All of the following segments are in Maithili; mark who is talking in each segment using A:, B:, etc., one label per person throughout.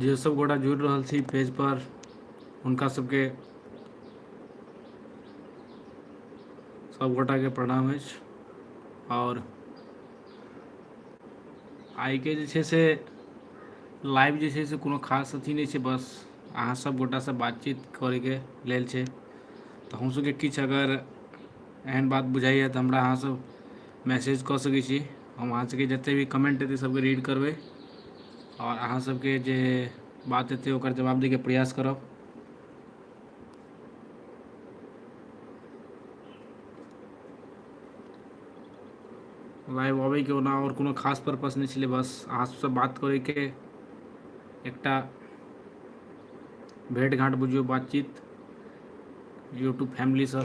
A: जे सब गोटा जुड़ि रहल छी पेज पर हुनका सबके सभगोटाके प्रणाम अछि आओर आइके जे छै से लाइव जे छै से कोनो खास अथी नहि छै बस अहाँ सब गोटासँ बातचीत करैके लेल छै तऽ हमसभके किछु अगर एहन बात बुझाइए तऽ हमरा अहाँसभ मैसेज कऽ सकै छी हम अहाँसभके जतेक भी कमेंट हेतै सभके रीड करबै आओर अहाँसभके जे बात हेतै ओकर जवाब दैके प्रयास करब लाइव अबे के ना और कोनो खास पर्पस नहीं छे बस अहाँ से बात करे के एकटा भेट घाट बुझियो बातचीत यूट्यूब फैमिली से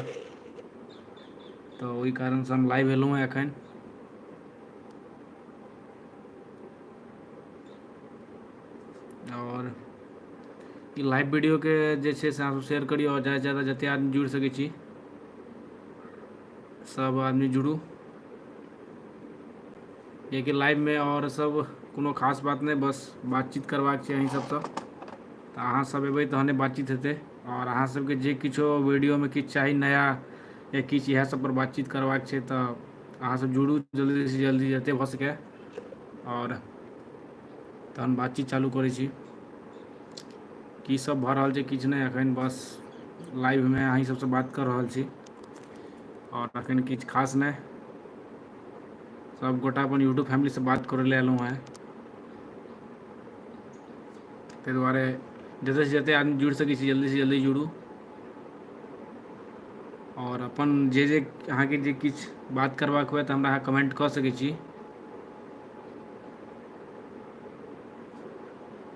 A: तो वही कारण से हम लाइव एलहुँ एखन आओर ई लाइव वीडियोके जे छै से अहाँसभ शेयर करियौ आओर ज्यादासँ ज्यादा जतेक आदमी जुड़ि सकै छी सभ आदमी जुड़ू किएकि लाइवमे आओर सभ कोनो खास बात नहि बस बातचीत करबाक छै अहीं सभसँ तऽ अहाँ सभ एबै तहने बातचीत हेतै आओर अहाँ सभके जे किछो वीडियोमे किछु चाही नया या किछु इएह सभ पर बातचीत करबाक छै तऽ अहाँ सभ जुड़ू जल्दीसँ जल्दी जतेक भऽ सकै आओर तहन बातचीत चालू करै छी की सब भऽ रहल छै किछु नहि एखन बस लाइव मे अही सबसँ बात कऽ रहल छी आओर तखन किछु खास नहि सभगोटा अपन यूट्यूब फैमिलीसँ बात करय लए एलहुँ हेँ ताहि दुआरे जतयसँ जतेक आदमी जुड़ि सकैत छी जल्दीसँ जल्दी जुड़ू आओर अपन जे जे अहाँके जे किछु बात करबाक हुए तऽ हमरा अहाँ कमेंट कऽ सकैत छी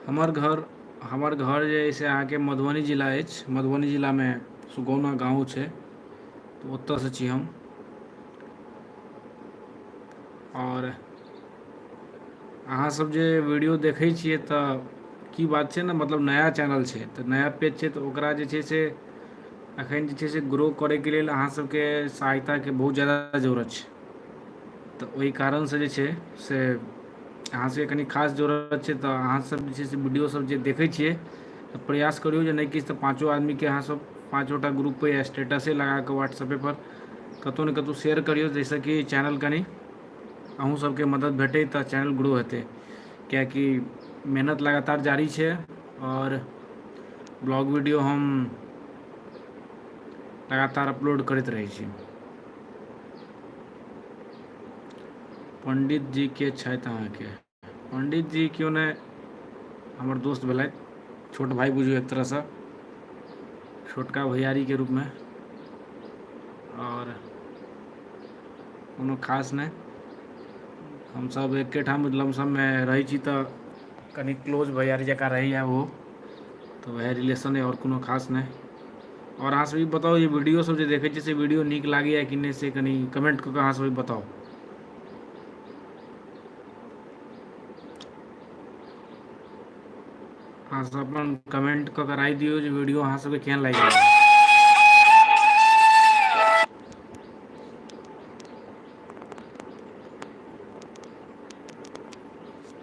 A: हमर घर हमर घर जे अइ से अहाँके मधुबनी जिला अछि मधुबनी जिलामे सुगौना गाँव छै तऽ ओतऽसँ छी हम आओर अहाँसभ जे वीडियो देखै छियै तऽ की बात छै ने मतलब नया चैनल छै तऽ नया पेज छै तऽ ओकरा जे छै से एखन जे छै से ग्रो करैके लेल अहाँसभके सहायताके बहुत ज्यादा जरूरत छै तऽ ओहि कारणसँ जे छै से अहाँ सभके कनि खास जरूरत छै तऽ अहाँसभ जे छै से वीडियोसभ जे देखै छियै तऽ प्रयास करियौ जे नहि किछु तऽ पाँचो आदमीकेँ अहाँसभ पाँचोटा ग्रुपपर या स्टेटसे लगा कऽ व्हाट्सऐपेपर कतहु ने कतहु शेयर करियौ जाहिसँ कि चैनल कनि अहूँ सभके मदद भेटै तऽ चैनल ग्रो हेतै किएकि मेहनत लगातार जारी छै आओर ब्लॉग वीडियो हम लगातार अपलोड करैत रहै छी पंडित जी के छथि अहाँके पंडित जी क्यों ने हमर दोस्त भेलथि छोट भाई बुझू एक तरह से छोटका भैयारी के रूप में और कोनो खास नहीं हम सब एके ठाम लमसम में रही छी तो कनि क्लोज भैयारी जकाँ रहैए ओ तऽ उएह रिलेशन अइ आओर कोनो खास नहि आओर अहाँसभ ई बताउ जे वीडियोसभ जे देखै छी से वीडियो नीक लागैए कि नहि से कनि कमेंट कऽ कऽ अहाँसभ ई बताउ अहाँसभ अपन कमेंट कऽ कऽ राय दियौ जे वीडियो अहाँसभके केहन लागि रहल अइ।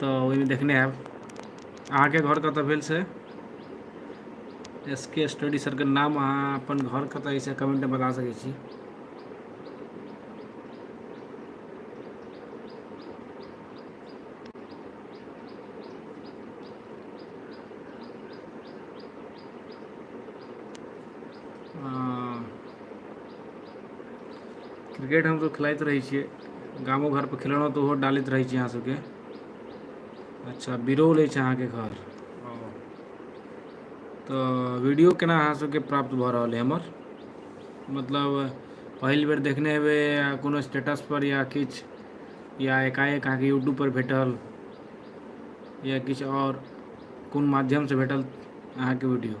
A: तऽ ओहिमे देखने हयब अहाँके घर कतऽ भेल से एस के स्टडी सरके नाम अहाँ अपन घर कतऽ एहिसँ कमेन्टमे बता सकै छी क्रिकेट हमसभ खेलाइत रहै छियै गामो घरपर खेलेलहुँ तऽ ओहो डालैत रहै छी अहाँ सभके अच्छा बिरौल अछि अहाँके घर ओ तऽ वीडियो केना अहाँ सभके प्राप्त भऽ रहल अइ हमर मतलब पहिल बेर देखने हेबै या कोनो स्टेटसपर या किछु या एकाएक अहाँके यूट्यूबपर भेटल या किछु आओर कोन माध्यमसँ भेटल अहाँके वीडियो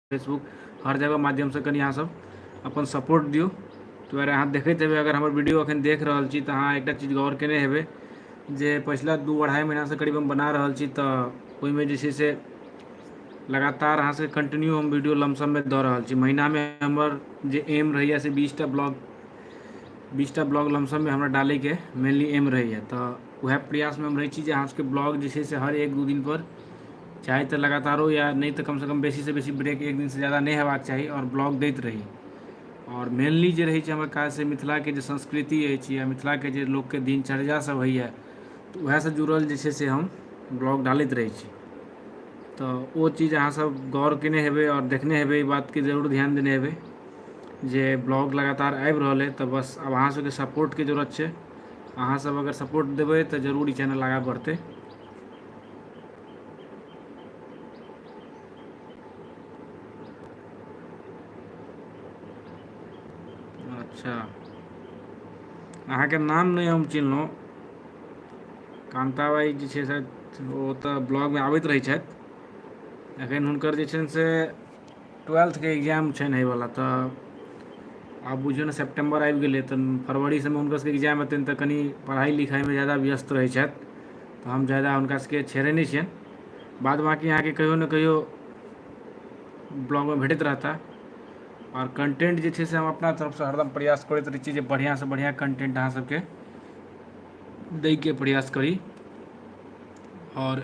A: फेसबुक हर जगह माध्यमसँ कनि अहाँसभ अपन सपोर्ट दियौ ताहि दुआरे अहाँ देखैत हेबै अगर हमर वीडियो अखन देख रहल छी तऽ अहाँ एकटा चीज गौर केने हेबै जे पछिला दू अढ़ाइ महीनासँ करीब हम बना रहल छी तऽ ओहिमे जे छै से लगातार अहाँसँ कन्टिन्यू हम वीडियो लमसममे दऽ रहल छी महीनामे हमर जे एम रहैए से बीसटा ब्लॉग बीसटा ब्लॉग लमसममे हमरा डालैके मेनली एम रहैए तऽ उएह प्रयासमे हम रहै छी जे अहाँसभके ब्लॉग जे छै से हर एक दू दिनपर चाहे तऽ लगातारो या नहि तऽ कमसँ कम बेसीसँ बेसी ब्रेक एक दिनसँ जा्यदा नहि हेबाक चाही आओर ब्लॉक दैत रही आओर मेनली जे रहै छै हमर काज से मिथिलाके जे संस्कृति अछि या मिथिलाके जे लोक के दिनचर्या सब होइए तऽ वएहसँ जुड़ल जे छै से हम ब्लॉग डालैत रहै छी तऽ ओ चीज अहाँसभ गौर कयने हेबै आओर देखने हेबै ई बातके जरूर ध्यान देने हेबै जे ब्लॉग लगातार आबि रहल अइ तऽ बस आब अहाँसभके सपोर्टके जरूरत छै अहाँसभ अगर सपोर्ट देबै तऽ जरूर ई चैनल आगाँ बढ़तै अच्छा अहाँके नाम नहि हम चिन्हलहुँ कान्ताबाइ जे छै से ओ तऽ ब्लॉगमे आबैत रहै छथि एखन हुनकर जे छनि से ट्वेल्थ के एग्जाम छैन हय वला तऽ आब बुझियौ ने सेप्टेम्बर आबि गेलै तऽ फरवरी सभमे हुनका सभके एग्जाम हेतनि तऽ कनि पढ़ाइ लिखाइमे ज्यादा व्यस्त रहै छथि तऽ हम ज्यादा हुनका सभके छेड़ै नहि छियनि बाद बाँकी अहाँके कहियो ने कहियो ब्लॉगमे भेटैत रहता आओर कन्टेन्ट जे छै से हम अपना तरफसँ हरदम प्रयास करैत रहै छी जे बढ़िआँसँ बढ़िआँ कन्टेन्ट अहाँ सभके दैके प्रयास करी आओर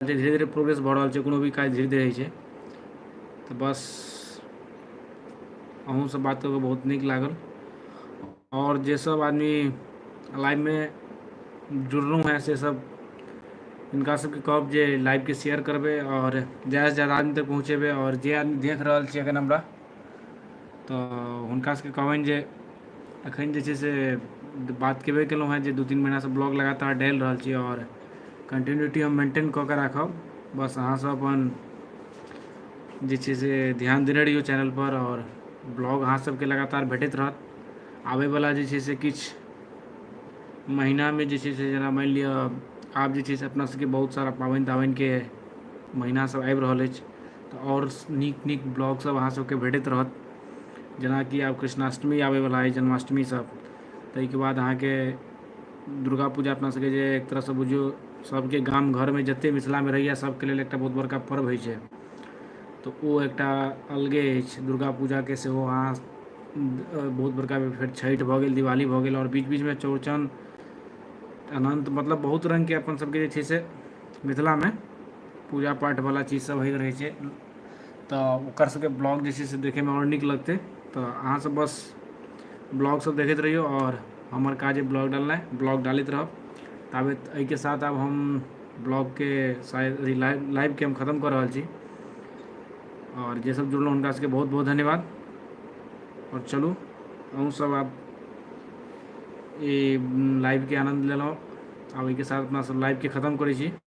A: जे धीरे धीरे प्रोग्रेस भऽ रहल छै कोनो भी काज धीरे धीरे होइ छै तऽ बस अहूँसँ बात कऽ कऽ बहुत नीक लागल आओर जेसभ आदमी लाइफमे जुड़लहुँ हेँ से सभ हुनका सभके कहब जे लाइफके शेयर करबै आओर ज्यादासँ ज्यादा आदमी तक पहुँचेबै आओर जे आदमी देख रहल छै एखन हमरा तऽ हुनका सभके कहबनि जे एखन जे छै से बात केबे केलहुँ हेँ जे दू तीन महिनासँ ब्लॉग लगातार डालि रहल छी आओर कन्टिन्यूटी हम मेन्टेन कऽ कऽ राखब बस अहाँसभ अपन जे छै से ध्यान देने रहियौ चैनलपर आओर ब्लॉग अहाँसभके लगातार भेटैत रहत आबयवला जे छै से किछु महीनामे जे छै से जेना मानि लिअ आब जे छै से अपनासभके बहुत सारा पाबनि ताबनिके महीनासभ आबि रहल अछि तऽ आओर नीक नीक ब्लॉगसभ अहाँसभके भेटैत रहत जेनाकि आब कृष्णाष्टमी आबयवला अइ जन्माष्टमीसभ ताहिके बाद अहाँके दुर्गा पूजा अपना सभके जे एक तरहसँ बुझियौ सभके गाम घरमे जतेक मिथिलामे रहैए सभके लेल एकटा बहुत बड़का पर्व होइत छै तऽ ओ एकटा अलगे अछि दुर्गा पूजाके सेहो अहाँ बहुत बड़का फेर छठि भऽ गेल दिवाली भऽ गेल आओर बीच बीचमे चौड़चन अनन्त मतलब बहुत रङ्गके अपनसभके जे छै से मिथिलामे पूजा पाठ वाला चीज सब होइत रहै छै तऽ ओकर सबके ब्लॉग जे छै से देखैमे आओर नीक लगतै तऽ अहाँसब बस ब्लॉग सब देखैत रहियौ आओर हमर काज अइ ब्लॉग डालनाइ ब्लॉग डालैत रहब ताबैत एहिके साथ आब हम ब्लॉगके शायद अभी लाइव लाइवके हम खतम कऽ रहल छी आओर जे सब जुड़लहुँ हुनका सबके बहुत बहुत धन्यवाद आओर चलू अहूँ सब आब ई लाइवके आनन्द लेलहुँ आब एहिके साथ अपना सब लाइवके खतम करै छी